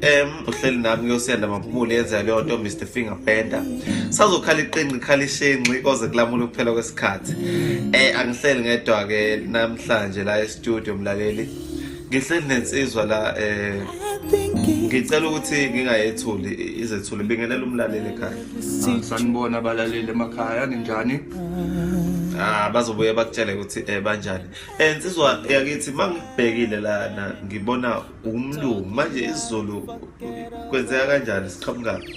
em uhleli nami kuyosenda maphumule yenza leyo nto Mr Finger Bender sazokhala iqinqi khala ishenqi koze kulamula ukuphela kwesikhathi eh angihleli ngedwa ke namhlanje la e-studio mlaleli ngihleli nensizwa la eh ngicela ukuthi ngingayethuli izethuli bingenela umlaleli ekhaya ah, sanibona abalaleli emakhaya ninjani ah bazobuye bakutshele ukuthi eh banjani eh nsizwa yakithi mangibhekile lana ngibona ungumlungu manje isizulu kwenzeka kanjani siqhamukaphi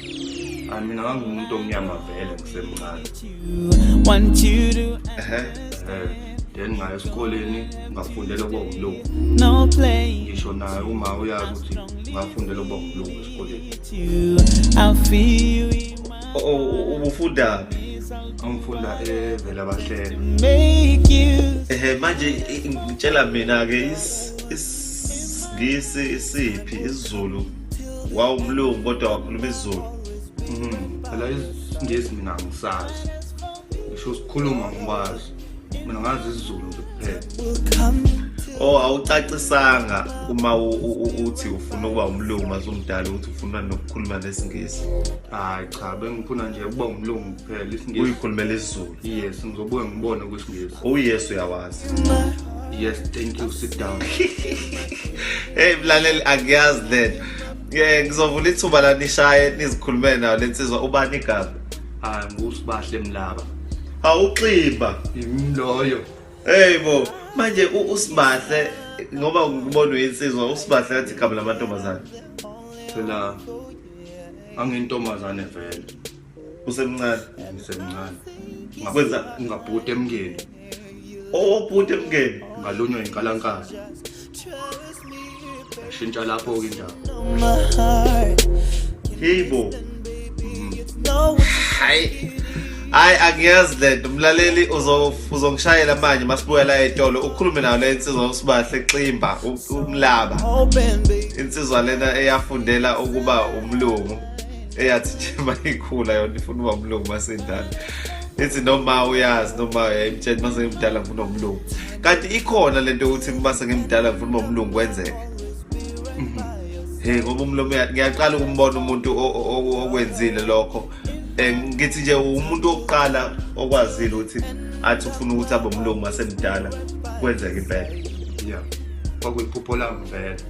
hayi mina ngangiwumuntu omnyama vele ngisemncane ehe then ngayo esikoleni ngafundela ukuba umlungu ngisho naye uma uyazi ukuthi ngafundela ukuba umlungu esikoleni ubufundaphi angifunda evela bahlelo ehe manje ngitshela mina-ke Ngisi isiphi isiZulu wawumlungu kodwa wakhuluma isiZulu. Mhm. Phela isingisi mina ngisazi. Ngisho sikhuluma ngikwazi. Mina ngazi isiZulu nje kuphela. Oh awucacisanga uma uthi ufuna ukuba umlungu mazumdala ukuthi ufuna nokukhuluma nesingisi. Hayi cha bengifuna nje ukuba umlungu kuphela isingisi. Uyikhulumela isiZulu. yes ngizobuye ngibone kwisiNgisi oh yes uyawazi yes thank you sit down hey mlaleli akuyazi lento ye ngizovula ithuba la nishaye nizikhulumele nayo le nsizwa ubani igama hayi ngusibahle mlaba awuximba yimloyo hey bo manje usibahle ngoba ngibona uyinsizwa usibahle kathi igama lamantombazane phela angintombazane vele usemncane eh, ngisemncane ngakwenza ngabhuti emngeni obhuti oh, emngeni ngalunywa inkalankazi shintsha lapho ke indaba hey bo hayi hayi angiyazi lento mlaleli uzongishayela manje masibuya la etolo ukhulume nayo le insizwa usibahle ximba umlaba insizwa lena eyafundela ukuba umlungu eyathi nje mayikhula yona ifuna uba umlungu masendala ethi noma uyazi noma yayimtshela mase ngimdala ngifuna umlungu kanti ikhona lento yokuthi mase ngimdala ngifuna uba umlungu kwenzeke mhm. he ngoba umlomo ngiyaqala ukumbona umuntu okwenzile lokho eh, ngithi nje umuntu wokuqala okwazile ukuthi athi ufuna ukuthi abe umlungu masemdala kwenzeka impela yeah kwakuyiphupho lami vele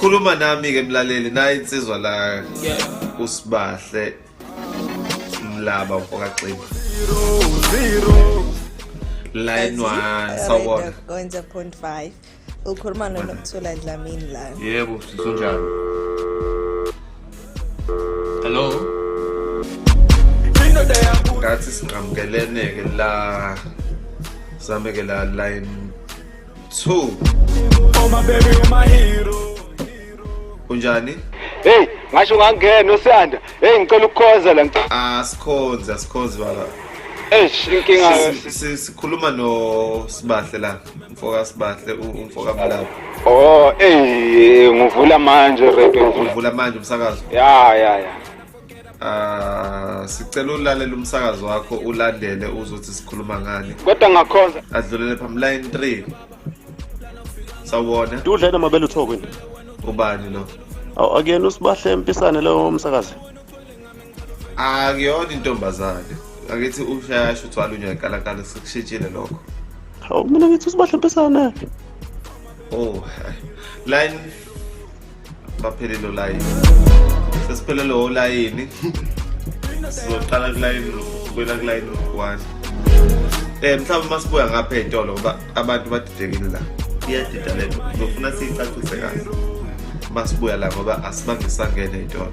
khuluma nami ke mlaleli naye insizwa la usibahle mlaba ufokaxima line 1 sawona 1.5 ukhuluma nonokuthula dlamini la yebo sisunjalo hello ngathi sinqamukelene ke la same ke la line 2 Oh my baby, oh my hero. Unjani? Hey, ngasho ngangena osiyanda. Hey, ngicela ukukhonza la ngicela. Ah, sikhonza, sikhonza baba. Eish, inkinga sikhuluma no Sibahle la. Mfoka Sibahle, umfoka Mlaba. Oh, hey, ngivula manje radio. Ngivula manje umsakazo. Ya, ya, ya. Ah, sicela ulalela umsakazo wakho ulandele uzothi sikhuluma ngani. Kodwa ngakhonza. Adlulele phambi line 3. Sawubona. Dudla yena mabele uthoko nje. Ubani lo? Aw akuyena usibahle empisane lo msakazi. Akuyona intombazane. Akithi ushayasho uthwala unyakalakala sekushitshile lokho. Hawu mina ngithi usibahle empisane. Oh. Line baphelele olayini sesiphelele olayini sizoqala kulayini kwela kulayini ukugwana um mhlawumbe uma sibuya ngapha ey'tolo ngoba abantu badidekile la iyadida le nto ngizofuna siyicacise kahle uma sibuya la ngoba asibange sangene ey'tolo